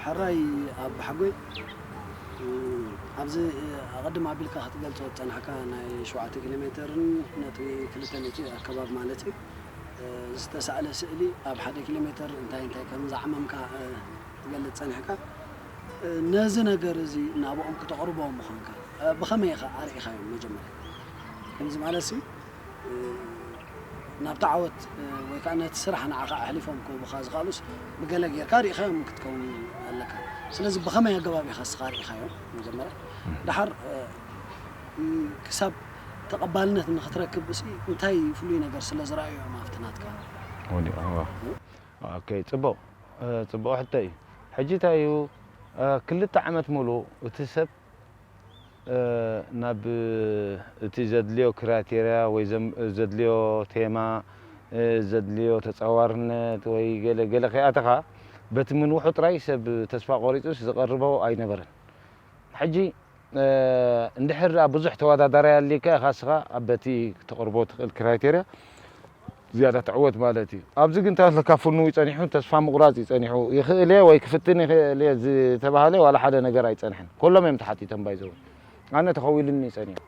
ሕራይ ኣባሓጎይ ኣብዚ ኣቐድም ኣቢልካ ክትገልፆ ዝፀናሕካ ናይ ሸውዓተ ኪሎ ሜተርን ነጥቢ ክልተ ሚእቲ ኣከባቢ ማለት እዩ። ዝተሳእለ ስእሊ ኣብ ሓደ ኪሎ ሜተር እንታይ እንታይ ከም ዘዕመምካ ክትገልጽ ጸኒሕካ ነዚ ነገር እዚ ናብኦም ክተቕርቦ ምዃንካ ብኸመይ ኢኻ ኣርኢኻዮም መጀመርያ ከምዚ ማለት ሲ ናብቲ ዓወት ወይ ከዓ ነቲ ስራሕ ንዓኻ ኣሕሊፎም ክህቡኻ ዝኽኣሉስ ብገለ ጌርካ ርኢኻዮም ክትከውን ኣለካ ስለዚ ብኸመይ ኣገባብ ኢኻ ንስኻ ርኢኻዮም መጀመርያ ደሓር ክሳብ ተቐባልነት ንክትረክብ እሲ እንታይ ፍሉይ ነገር ስለ ዝረኣዩ እዮም ኣብቲ ናትካ ወዲቖምዋ? ኦኬ ጽቡቕ ጽቡቕ ሕቶ እዩ ሕጂ እንታይ እዩ ክልተ ዓመት ምሉእ እቲ ሰብ ናብ እቲ ዘድልዮ ክራይቴርያ ወይ ዘድልዮ ቴማ ዘድልዮ ተጻዋርነት ወይ ገለ ገለ ከይኣተኻ በቲ ምንውሑ ጥራይ ሰብ ተስፋ ቆሪጹስ ዝቐርቦ ኣይነበረን ሕጂ እንድሕር ድኣ ብዙሕ ተወዳዳራይ ኣልይካ ኢኻ እስኻ ኣብ በቲ ክተቕርቦ ትኽእል ክራይቴርያ ዝያዳ ትዕወት ማለት እዩ። ኣብዚ ግን እንታይ ኣለካ ፍኑው ጸኒሑ ተስፋ ምቑራጽ እዩ ጸኒሑ። ይኽእል እየ ወይ ክፍትን ይኽእል እየ ዝተባህለ ዋላ ሓደ ነገር ኣይጸንሐን። ኮሎም እዮም ተሓቲቶም ባይ ዘ ወይ። ኣነ ተኸዊሉኒ እዩ ጸኒሑ።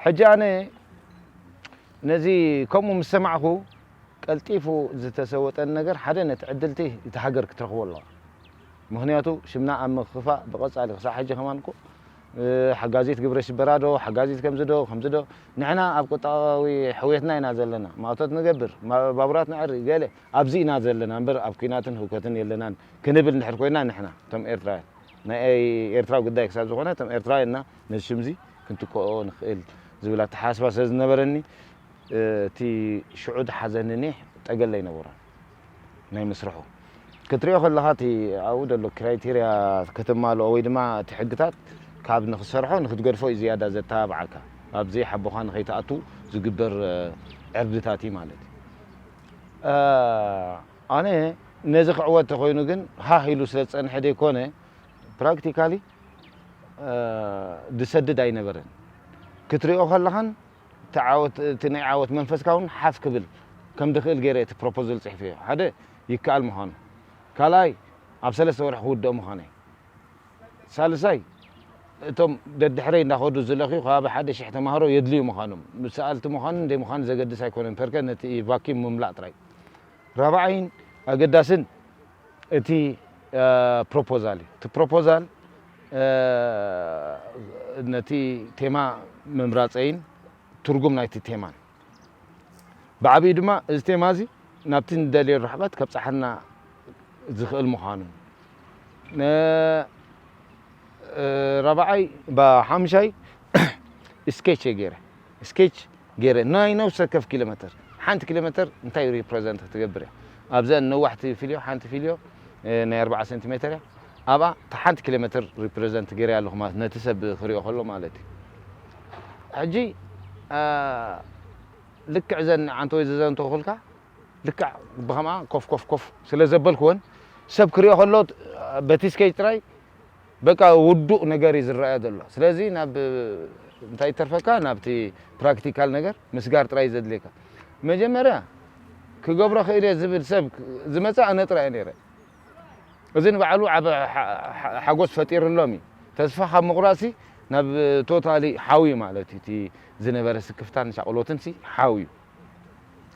ሕጂ ኣነ ነዚ ከምኡ ምስ ሰማዕኩ ቀልጢፉ ዝተሰወጠን ነገር ሓደ ነቲ ዕድልቲ እቲ ሃገር ክትረኽቦ ኣለዋ ምኽንያቱ ሽምና ኣብ ምክፋእ ብቐጻሊ ክሳዕ ሕጂ ከማን እኮ ሓጋዚት ግብረ ሽበራ ዶ ሓጋዚት ከምዚ ዶ ከምዚ ዶ ንሕና ኣብ ቁጠባዊ ሕውየትና ኢና ዘለና ማእቶት ንገብር ባቡራት ነዕሪ ገለ ኣብዚ ኢና ዘለና እምበር ኣብ ኩናትን ህውከትን የለናን ክንብል እንድሕር ኮይና ንሕና እቶም ኤርትራውያን ናይ ኤርትራ ጉዳይ ክሳብ ዝኾነ እቶም ኤርትራውያንና ነዚ ሽምዚ ክንትክኦ ንኽእል ዝብል ኣተሓሳስባ ስለ ዝነበረኒ እቲ ሽዑ ዝሓዘኒ ኒሕ ጠገለ ኣይነበሮን ናይ ምስርሑ ክትሪኦ ከለኻ እቲ ኣብኡ ዘሎ ክራይቴርያ ከተማልኦ ወይ ድማ እቲ ሕግታት ካብ ንክትሰርሖ ንክትገድፎ እዩ ዝያዳ ዘተባብዓካ ኣብ ዘይሓቦኻ ንከይትኣቱ ዝግበር ዕርድታት እዩ ማለት እዩ ኣነ ነዚ ክዕወት ተኮይኑ ግን ሃህ ኢሉ ስለ ዝጸንሐ ዘይኮነ ፕራክቲካሊ ዝሰድድ ኣይነበረን ክትሪኦ ከለኻን እቲ ዓወት እቲ ናይ ዓወት መንፈስካ ውን ሓፍ ክብል ከም ድክእል ገይረ እቲ ፕሮፖዝል ጽሒፈዮ ሓደ ይከኣል ምዃኑ ካልኣይ ኣብ ሰለስተ ወርሒ ክውድኦ ምዃነይ ሳልሳይ እቶም ደድሕረይ እንዳከዱ ዝለክዩ ከባቢ ሓደ ሽሕ ተማሃሮ የድልዩ ምዃኖም ሰኣልቲ ምዃንን ዘይምዃንን ዘገድስ ኣይኮነን ፐርከ ነቲ ቫኪም ምምላእ ጥራይ ራብዓይን ኣገዳስን እቲ ፕሮፖዛል እዩ። እቲ ፕሮፖዛል ነቲ ቴማ ምምራጸይን ትርጉም ናይቲ ቴማን ብዓቢኡ ድማ እዚ ቴማ እዚ ናብቲ ንደልዮ ርሕቐት ከብጽሓና ዝኽእል ምዃኑን ራብዓይ ብሓሙሻይ ስኬች እየ ገይረ። ስኬች ገይረ ናይ ነብሲ ወከፍ ኪሎመተር ሓንቲ ኪሎመተር እንታይ ሪፕረዘንት ክትገብር እያ ኣብዘን ነዋሕቲ ፊልዮ ሓንቲ ፊልዮ ናይ ኣርብዓ ሰንቲሜተር እያ ኣብኣ እታ ሓንቲ ኪሎመተር ሪፕረዘንት ገይረያ ኣለኹ ማለት ነቲ ሰብ ክሪኦ ከሎ ማለት እዩ ሕጂ ልክዕ ዘን ዓንተወይ ዘዘንተኹልካ ልክዕ ብከምኣ ኮፍ ኮፍ ኮፍ ስለ ዘበልክወን ሰብ ክሪኦ ከሎ በቲ ስኬጅ ጥራይ በቃ ውዱእ ነገር እዩ ዝረኣይ ዘሎ ስለዚ ናብ እንታይ ይተርፈካ ናብቲ ፕራክቲካል ነገር ምስጋር ጥራይ እዩ ዘድልየካ መጀመርያ ክገብሮ ክእል እየ ዝብል ሰብ ዝመጸ ኣነ ጥራይ እየ ነይረ እዚ ንባዕሉ ዓቢ ሓጎስ ፈጢርሎም እዩ ተስፋ ካብ ምቑራጽሲ ናብ ቶታሊ ሓው እዩ ማለት እዩ እቲ ዝነበረ ስክፍታን ሻቕሎትን ሲ ሓው እዩ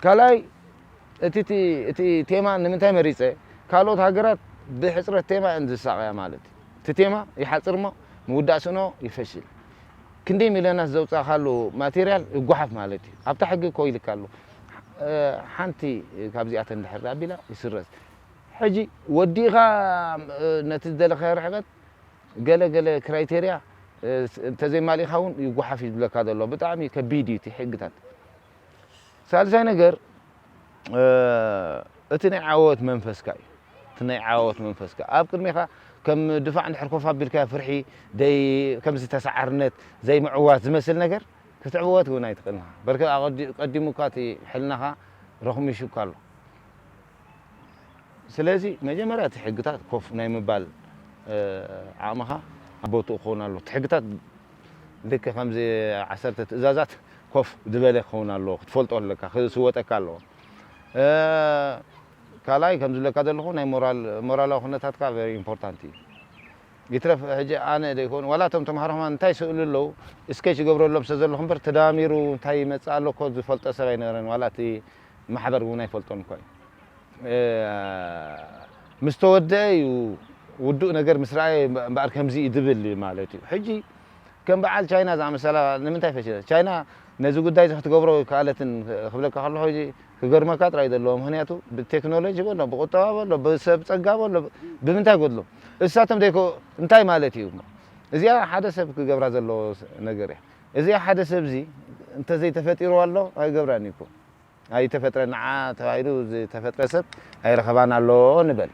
ካልኣይ እቲ እቲ እቲ ቴማ ንምንታይ መሪጸ ካልኦት ሃገራት ብሕጽረት ቴማ እየን ዝሳቐያ ማለት እዩ። እቲ ቴማ ይሓጽር እሞ ምውዳእ ስእኖ ይፈሽል። ክንደይ ሚልዮናት ዘውጻእካሉ ማቴርያል ይጓሓፍ ማለት እዩ። ኣብታ ሕጊ እኮ ኢልካ ኣሎ ሓንቲ ካብዚኣተን እንድሕር ደኣ ኣቢላ ይስረዝ። ሕጂ ወዲእኻ ነቲ ዝደለኻዮ ርሕቀት ገለ ገለ ክራይቴርያ እንተዘይማሊእካ እውን ይጎሓፍ እዩ ዝብለካ ዘሎ ብጣዕሚ ከቢድ እዩ እቲ ሕግታት ሳልሳይ ነገር እቲ ናይ ዓወት መንፈስካ እዩ እቲ ናይ ዓወት መንፈስካ ኣብ ቅድሜኻ ከም ድፋዕ እንድሕር ኮፍ ኣቢልካ ፍርሒ ደይ ከምዚ ተሰዓርነት ዘይምዕዋት ዝመስል ነገር ክትዕወት እውን ኣይትኽእልን ኢኻ በርከ ቀዲሙካ እቲ ሕልናኻ ረኹሚሹካ ኣሎ ስለዚ መጀመርያ እቲ ሕግታት ኮፍ ናይ ምባል ዓቕምኻ ኣብ ቦትኡ ክኸውን ኣለዎ። እቲ ሕግታት ልክዕ ከምዚ ዓሰርተ ትእዛዛት ኮፍ ዝበለ ክኸውን ኣለዎ፣ ክትፈልጦ ኣለካ፣ ክስወጠካ ኣለዎ። ካልኣይ ከም ዝብለካ ዘለኹ ናይ ሞራል ሞራላዊ ኩነታትካ ቨሪ ኢምፖርታንት እዩ። ይትረፍ ሕጂ ኣነ ዘይኮኑ ዋላ እቶም ተምሃሮ ከማን እንታይ ይስእሉ ኣለዉ ስኬች ይገብረሎም ስለ ዘለኹ እምበር ተደማሚሩ እንታይ ይመጽእ ኣሎ እኮ ዝፈልጦ ሰብ ኣይነበረን ዋላ እቲ ማሕበር እውን ኣይፈልጦን እኳ እዩ። ምስ ተወደኣ እዩ ውዱእ ነገር ምስ ረኣየ እምበኣር ከምዚ እዩ ዝብል ማለት እዩ። ሕጂ ከም በዓል ቻይና ዝኣመሰላ ንምንታይ ፈሺለን? ቻይና ነዚ ጉዳይ እዚ ክትገብሮ ኣይከኣለትን ክብለካ ከለኹ ክገርመካ ጥራይ እዩ ዘለዎ። ምኽንያቱ ብቴክኖሎጂ በሎ ብቁጠባ በሎ ብሰብ ጸጋ በሎ ብምንታይ ጎድሎም? እሳቶም ዘይኮ እንታይ ማለት እዩ እሞ? እዚኣ ሓደ ሰብ ክገብራ ዘለዎ ነገር እያ። እዚ ሓደ ሰብ እዚ እንተ ዘይተፈጢርዋ ኣሎ ኣይገብራን እዩ እኮ ኣይተፈጥረን ንዓ ተባሂሉ ዝተፈጥረ ሰብ ኣይረኸባን ኣሎ ንበል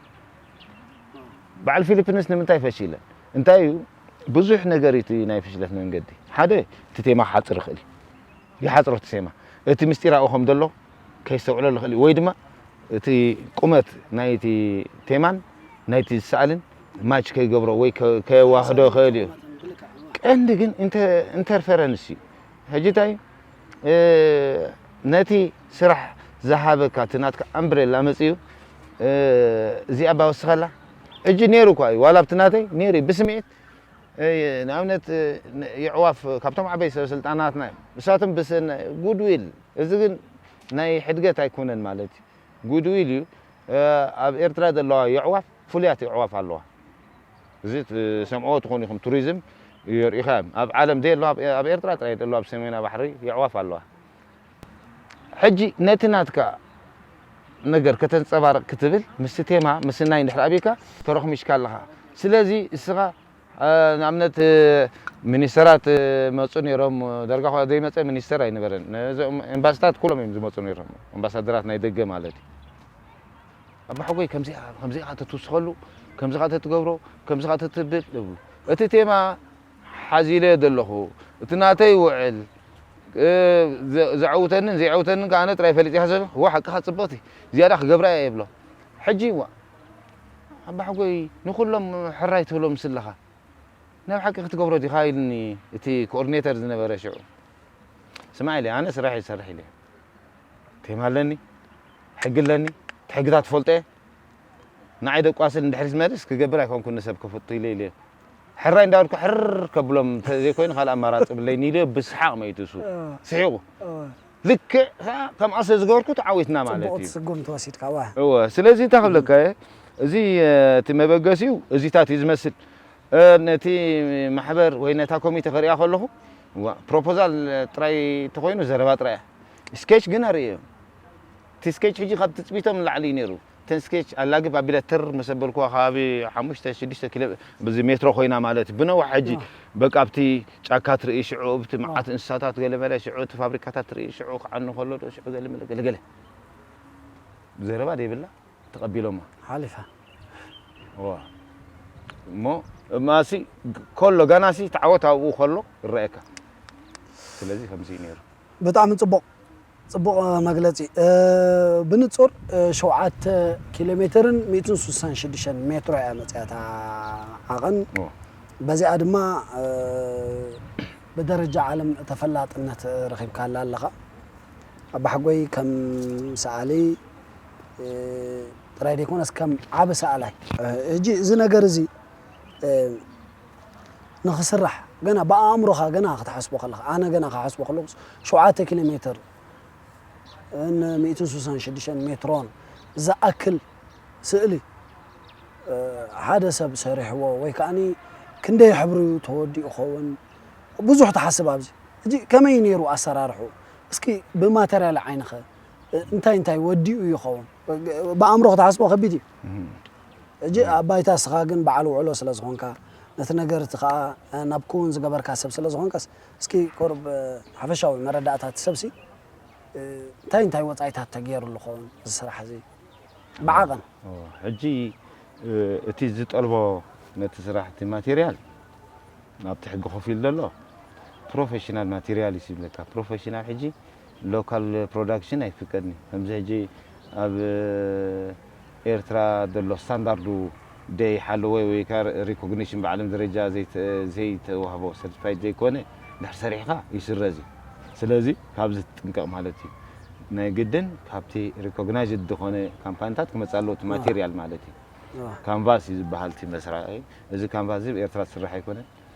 በዓል ፊሊፕንስ ንምንታይ ፈሺለን እንታይ እዩ ብዙሕ ነገር እዩ እቲ ናይ ፍሽለት መንገዲ ሓደ እቲ ቴማ ክሓፅር ይኽእል እዩ ይሓፅሮ እቲ ቴማ እቲ ምስጢራዊ ከም ዘሎ ከየስተውዕሎ ልኽእል እዩ ወይ ድማ እቲ ቁመት ናይቲ ቴማን ናይቲ ዝሰኣልን ማች ከይገብሮ ወይ ከየዋህዶ ይኽእል እዩ። ቀንዲ ግን ኢንተርፌረንስ እዩ። ሕጂ እንታይ ነቲ ስራሕ ዝሃበካ እቲ ናትካ ኣምብሬላ መጺኡ እዚኣ እባ ወስኸላ ሕጂ ነይሩ እኳ እዩ ዋላ ኣብቲ ናተይ ነይሩ እዩ ብስምዒት ንኣብነት የዕዋፍ ካብቶም ዓበይ ሰበስልጣናትና እዮም ንሳቶም ብሰናይ ጉድዊል እዚ ግን ናይ ሕድገት ኣይኮነን ማለት ጉድዊል እዩ ኣብ ኤርትራ ዘለዋ የዕዋፍ ፍሉያት የዕዋፍ ኣለዋ እዚ ትሰምዕዎ ትኾኑ ኢኹም ቱሪዝም የርእዩኻ እዮም ኣብ ዓለም ዘየለዋ ኣብ ኤርትራ ጥራይ ዘለዋ ኣብ ሰሜናዊ ባሕሪ የዕዋፍ ኣለዋ ሕጂ ነቲ ናትካ ነገር ከተንጸባርቕ ክትብል ምስቲ ቴማ ምስናይ እንድሕር ኣብካ ተሮኽሚሽካ ኣለኻ ስለዚ እስኻ ንኣብነት ሚኒስተራት መጹ ኔሮም ዳርጋ እኳ ዘይመጸ ሚኒስተር ኣይነበረን ነዞም ኤምባስታት ኩሎም እዮም ዝመጹ ኔሮም ኣምባሳደራት ናይ ደገ ማለት እዩ ኣቦሓጎይ ከምዚኣ ከምዚኣ ተትውስኸሉ ከምዚኻ ተትገብሮ ከምዚኻ ተትብል እብሉ እቲ ቴማ ሓዚለዮ ዘለኹ እቲ ናተይ ውዕል ዘዐውተንን ዘየዐውተንን ከኣ ኣነ ጥራይ ፈሊጠያ ስለዘለኹ እወ ሓቅኻ ጽብቕቲ ዝያዳ ክገብራ እየ እብሎም ሕጂ ዋእ ኣባሕጎይ ንኹሎም ሕራይ ትብሎም ስለኻ ናይ ብሓቂ ክትገብሮ ዲኻ ኢሉኒ እቲ ኮኦርዲኔተር ዝነበረ ሽዑ ስማዕ ኢለ ኣነ ስራሕይ ዝሰርሕ ኢለ ቴማ ኣለኒ ሕጊ ኣለኒ እቲ ሕግታት ትፈልጦ እየ ንዓይ ደቋስል ንድሕሪት መልስ ክገብር ኣይኮንኩን ንሰብ ከፍቱ ኢለ ኢለ ሕራይ እንዳበልኩ ሕር ከብሎም ዘይኮይኑ ካልእ ኣማራፂ ብለይኒ ኢለ ብስሓቕ መይቱ እሱ ስሒቑ ልክዕ ከኣ ከም ኣሰ ዝገበርኩ ተዓዊትና ማለት እዩ። ጽቡቕቲ ስጉምቲ ወሲድካ እወ። እወ ስለዚ እንታይ ክብለካ እየ እዚ እቲ መበገሲኡ እዚታት እዩ ዝመስል ነቲ ማሕበር ወይ ነታ ኮሚቴ ክርእያ ከለኹ እዋእ ፕሮፖዛል ጥራይ እንተኾይኑ ዘረባ ጥራይ እያ ስኬች ግን ኣርእየዮም እቲ ስኬች ሕጂ ካብ ትጽቢቶም ንላዕሊ እዩ ነይሩ። እተን ስኬች ኣላግብ ኣቢለ ትር ምስ ኣበልኩዋ ከባቢ ሓሙሽተ ሽዱሽተ ኪሎ ብዚ ሜትሮ ኮይና ማለት እዩ ብነዋሕ ሕጂ በቃ ኣብቲ ጫካ ትርኢ ሽዑ ኣብቲ መዓት እንስሳታት ገለመለ ሽዑ እቲ ፋብሪካታት ትርኢ ሽዑ ክዓኑ ከሎ ዶ ሽዑ ገለመለ ገለገለ ዘረባ ደይብላ ተቐቢሎማ ሓሊፋ እዋ እሞ እማሲ ከሎ ጋናሲ ተዓወት ኣብኡ ከሎ ይረኣየካ ስለዚ ከምዚ እዩ ነይሩ ብጣዕሚ ጽቡቕ ጽቡቕ መግለጺ ብንጹር ሸውዓተ ኪሎ ሜትርን ሚእትን ስሳን ሽዱሽተን ሜትሮ እያ መጺኣ እታ ዓቐን በዚኣ ድማ ብደረጃ ዓለም ተፈላጥነት ረኺብካላ ኣለኻ ኣባሓጎይ ከም ሰኣሊ ጥራይ ዘይኮነስ ከም ዓቢ ሰኣላይ ሕጂ እዚ ነገር እዚ ንኽስራሕ ገና ብኣእምሮኻ ገና ክትሓስቦ ከለኻ ኣነ ገና ክሓስቦ ከለኹስ ሸውዓተ ኪሎ ሜትር ን ሚእትን ስሳን ሽዱሽተን ሜትሮን ዝኣክል ስእሊ ሓደ ሰብ ሰሪሕዎ ወይ ከኣኒ ክንደይ ሕብሪዩ ተወዲኡ ይኸውን ብዙሕ ትሓስብ ኣብዚ ሕጂ ከመይዩ ነይሩ ኣሰራርሕኡ እስኪ ብማተርያል ዓይንኸ እንታይ እንታይ ወዲኡ ይኸውን ብኣእምሮ ክትሓስቦ ከቢድ እዩ ሕጂ ኣብ ባይታ እስኻ ግን በዓል ውዕሎ ስለ ዝኾንካ ነቲ ነገር እቲ ከኣ ናብ ክዉን ዝገበርካ ሰብ ስለ ዝኾንካስ እስኪ ቁሩብ ሓፈሻዊ መረዳእታ እቲ ሰብሲ እንታይ እንታይ ወጻኢታት ተጌሩሉ ክኸውን እዚ ስራሕ እዚ ብዓቐን? ሕጂ እቲ ዝጠልቦ ነቲ ስራሕ እቲ ማቴርያል ኣብቲ ሕጊ ኮፍ ኢሉ ዘሎ ፕሮፈሽናል ማቴርያል እዩ ዝብለካ ፕሮፈሽናል ሕጂ ሎካል ፕሮዳክሽን ኣይፍቀድን እዩ ከምዚ ሕጂ ኣብ ኤርትራ ዘሎ ስታንዳርዱ ደይሓለወ ወይ ከኣ ሪኮግኒሽን ብዓለም ደረጃ ዘይተዋህቦ ሰርቲፋይድ ዘይኮነ ድሕር ሰሪሕካ ይስረዝ እዩ ስለዚ ካብዚ ትጥንቀቅ ማለት እዩ ናይ ግድን ካብቲ ሪኮግናይዝድ ድኮነ ካምፓኒታት ክመጽእ ኣለዎ እቲ ማቴርያል ማለት እዩ ካንቫስ እዩ ዝበሃል እቲ መስራቂ እዚ ካንቫስ እዚ ብ ኤርትራ ዝስራሕ ኣይኮነን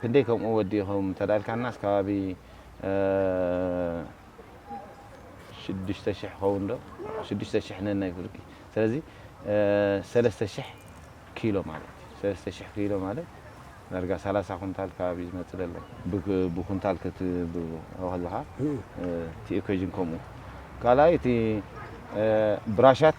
ክንደይ ከምኡ ወዲ ይከውን እንተ ኢልካናስ ከባቢ ሽዱሽተ ሽሕ ይከውን ዶ ሽዱሽተ ሽሕ ነናይ ፍርቂ ስለዚ ሰለስተ ሽሕ ኪሎ ማለት እዩ ሰለስተ ሽሕ ኪሎ ማለት ዳርጋ ሰላሳ ኩንታል ከባቢ እዩ ዝመጽእ ዘሎ ብኩንታል ክትህቦ ከለካ እቲ ኢኮጅን ከምኡ ካልኣይ እቲ ብራሻት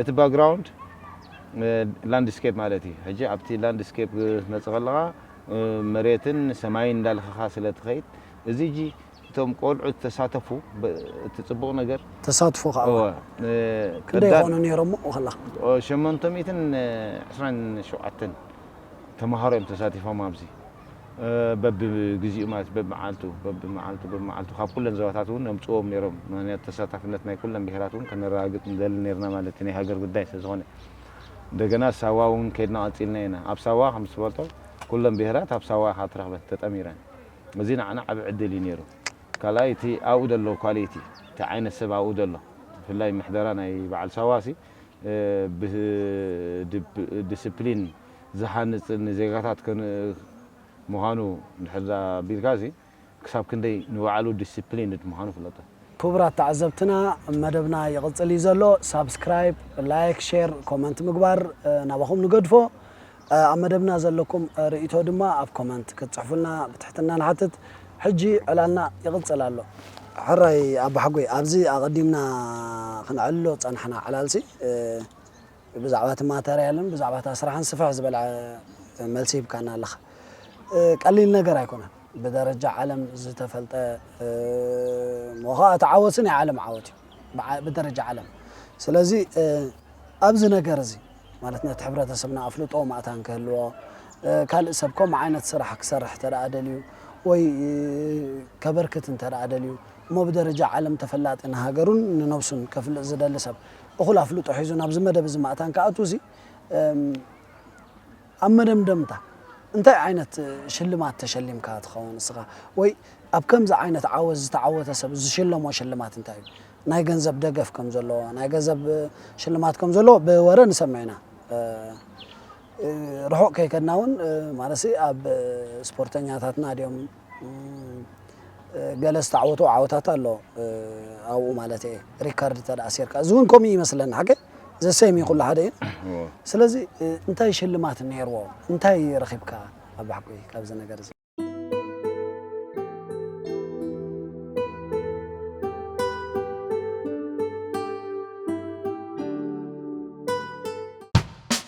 እቲ ባግራውንድ ላንድስኬፕ ማለት እዩ። ሕጂ ኣብቲ ላንድስኬፕ ክትመጽእ ከለኻ መሬትን ሰማይን እንዳልኸኻ ስለ ትኸይድ እዚ ሕጂ እቶም ቆልዑ ዝተሳተፉ እቲ ጽቡቕ ነገር ተሳትፎ ከኣ እወ ክንደይ ቀዳም ይኾኑ ነይሮም ኣብኡ ከለኻ? ሸሞንተ ሚእትን ዕስራን ሸውዓተን ተማሃሮ እዮም ተሳቲፎም ኣብዚ። በቢ ግዚኡ ማለት በብመዓልቱ በብመዓልቱ በብመዓልቱ ካብ ኩለን ዞባታት እውን ነምጽዎም ነይሮም ምክንያቱ ተሳታፍነት ናይ ኩለን ብሄራት እውን ከነረጋግጽ ንደሊ ነይርና ማለት እዩ ናይ ሃገር ጉዳይ ስለ ዝኾነ እንደገና ሳዋ እውን ከድና ቀጺልና ኢና ኣብ ሳዋ ከም ዝትፈልጦ ኩለን ብሄራት ኣብ ሳዋ ኢኻ ትረኽበን ተጠሚረን እዚ ንዓና ዓቢ ዕድል እዩ ነይሩ ካልኣይ እቲ ኣብኡ ዘሎ ኳሊቲ እቲ ዓይነት ሰብ ኣብኡ ዘሎ ብፍላይ ምሕደራ ናይ በዓል ሳዋ ሲ ብድስፕሊን ዝሃንጽን ንዜጋታት ምዃኑ እንድሕር ኣቢልካሲ ክሳብ ክንደይ ንባዕሉ ዲሲፕሊንድ ምዃኑ ፍለጦ። ክቡራት ተዓዘብትና መደብና ይቕጽል እዩ ዘሎ። ሳብስክራይብ፣ ላይክ፣ ሼር፣ ኮመንት ምግባር ናባኹም ንገድፎ። ኣብ መደብና ዘለኩም ርእይቶ ድማ ኣብ ኮመንት ክትጽሕፉልና ብትሕትና ንሓትት። ሕጂ ዕላልና ይቕጽል ኣሎ። ሕራይ ኣባሓጎይ፣ ኣብዚ ኣቐዲምና ክንዕልሎ ዝጸናሕና ዕላልሲ፣ ብዛዕባ እቲ ማተርያልን ብዛዕባ እታ ስራሕን ስፍሕ ዝበለ መልሲ ሂብካና ኣለኻ። ቀሊል ነገር ኣይኮነን። ብደረጃ ዓለም ዝተፈልጠ እሞ ኸኣ እቲ ዓወትሲ ናይ ዓለም ዓወት እዩ ብደረጃ ዓለም። ስለዚ ኣብዚ ነገር እዚ ማለት ነቲ ሕብረተሰብና ኣፍልጦ ማእታን ክህልዎ ካልእ ሰብ ከምኡ ዓይነት ስራሕ ክሰርሕ እንተ ደልዩ ወይ ከበርክት እንተ ደልዩ እሞ ብደረጃ ዓለም ተፈላጢ ንሃገሩን ንነብሱን ከፍልጥ ዝደሊ ሰብ እኹል ኣፍልጦ ሒዙ ናብዚ መደብ እዚ ማእታን ክኣቱ እዚ ኣብ መደምደምታ እንታይ ዓይነት ሽልማት ተሸሊምካ ትኸውን ንስኻ ወይ ኣብ ከምዚ ዓይነት ዓወት ዝተዓወተ ሰብ ዝሽለሞ ሽልማት እንታይ እዩ ናይ ገንዘብ ደገፍ ከም ዘለዎ ናይ ገንዘብ ሽልማት ከም ዘለዎ ብወረ ንሰምዕ ኢና ርሑቕ ከይከድና እውን ማለት ኣብ ስፖርተኛታትና ድዮም ገለ ዝተዓወቶ ዓወታት ኣሎ ኣብኡ ማለት እየ ሪካርድ እንተ ኣሲርካ እዚ እውን ከምኡ ይመስለኒ ሓቂ ዘሰይም እዩ ኩሉ ሓደ እዩ ስለዚ እንታይ ሽልማት ነይርዎ እንታይ ረኺብካ ኣብ ሓቂ ካብዚ ነገር እዚ